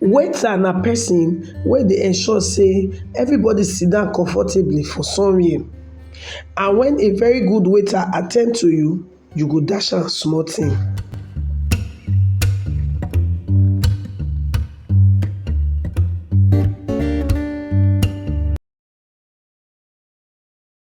Waiter na person wey dey ensure sey everybody sit down comfortably for somewhere and when a very good waiter at ten d to you, you go dash am small thing.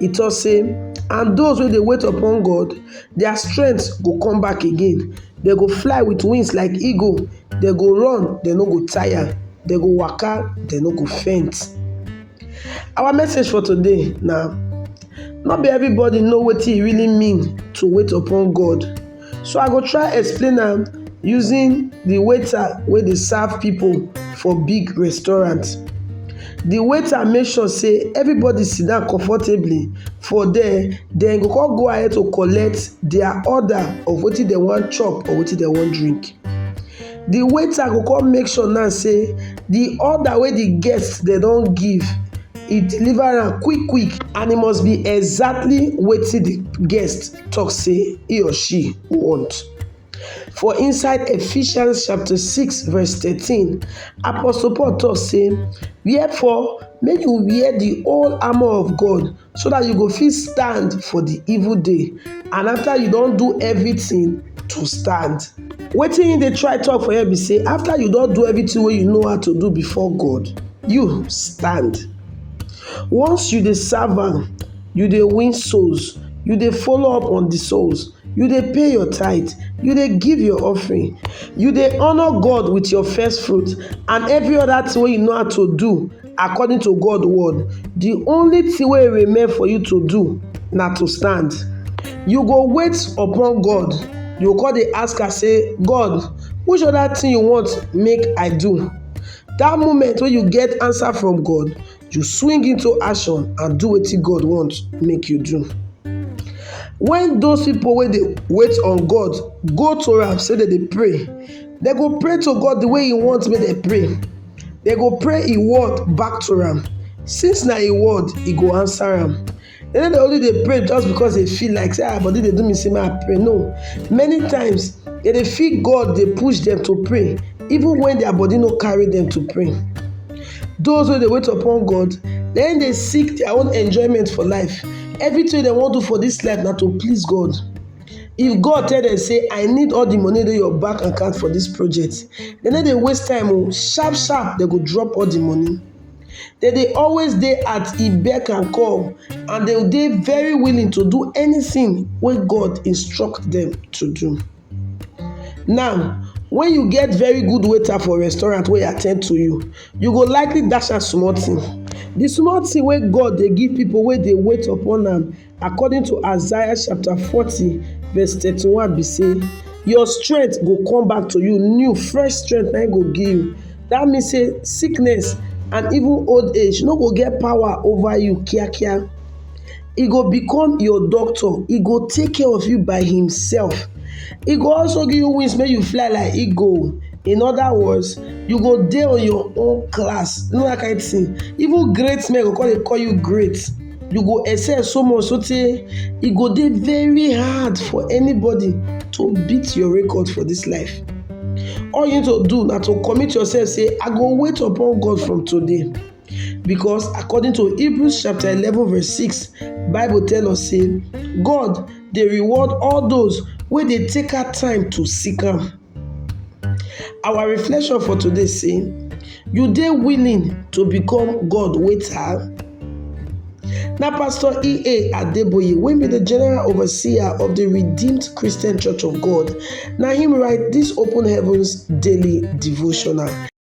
E tok say, And those wey dey wait upon God, their strength go come back again. Dem go fly with wings like eagle, dem go run, dem no go tire, dem go waka, dem no go faint. Our message for today na no be everybody know wetin e really mean to wait upon God. So I go try explain am using the waiter wey dey serve people for big restaurant. The waiter make sure say everybody sit down comfortably for there, then go come go ahead to collect their order of wetin dem wan chop or wetin dem wan drink. The waiter go come make sure now say the order wey the guest dem don give, e deliver am quick quick and e must be exactly wetin the guest talk say he or she want. For inside Ephesians chapter 6 verse 13, Apostle Paul talk say, Wherefore, make you wear the whole armor of God so that you go fit stand for the evil day. And after you don do everything to stand. Wetin he dey try talk for here be say after you don do everything wey you know how to do before God, you stand. Once you dey serve am, you dey win souls, you dey follow up on the souls, you dey pay your tithe, you dey give your offering, you dey honor God with your first fruit and every other thing wey you know how to do according to God word, the only thing wey remain for you to do na to stand. You go wait upon God, you go come dey ask am say, God, which other thing you want make I do? That moment wey you get answer from God, You swing into action and do wetin God want make you do. When those people wey dey wait on God go to am say dem dey pray, dem go pray to God the way He want make dem pray. Dem go pray Him word back to am. Since na Him word, He go answer am. They no dey only dey pray just because they feel like say ah body dey do me say make I pray. No, many times they dey feel God dey push them to pray even when their body no carry them to pray. Those wey dey wait upon God, then dey seek their own enjoyment for life. Everything they wan do for this life na to please God. If God tell them say I need all the money dey your bank account for this project, they no dey waste time o, sharp sharp they go drop all the money. They dey always dey at e beck and call and they dey very willing to do anything wey God instruct them to do. Now, when you get very good waiter for restaurant wey attend to you, you go likely dash am small thing. The small thing wey God dey give people wey dey wait upon am according to Isaiah chapter 40 verse 31 be say your strength go come back to you new fresh strength na go give you that means say sickness and even old age no go get power over you kiakia He go become your doctor He go take care of you by himself He go also give you wings make you fly like eagle in other words you go dey on your own class you know that kind of thing even great men go call dey call you great you go excel so much so tey e go dey very hard for anybody to beat your record for this life all you need to do na to commit yourself say i go wait upon god from today because according to hebrews chapter eleven verse six, bible tell us say god dey reward all those wey dey take out time to seek am Our reflection for today say, you dey willing to become God waiter? Na Pastor E.A. Adeboye wey be the general overseer of the Redeemed Christian Church of God na him write this Open Heavens daily devotional.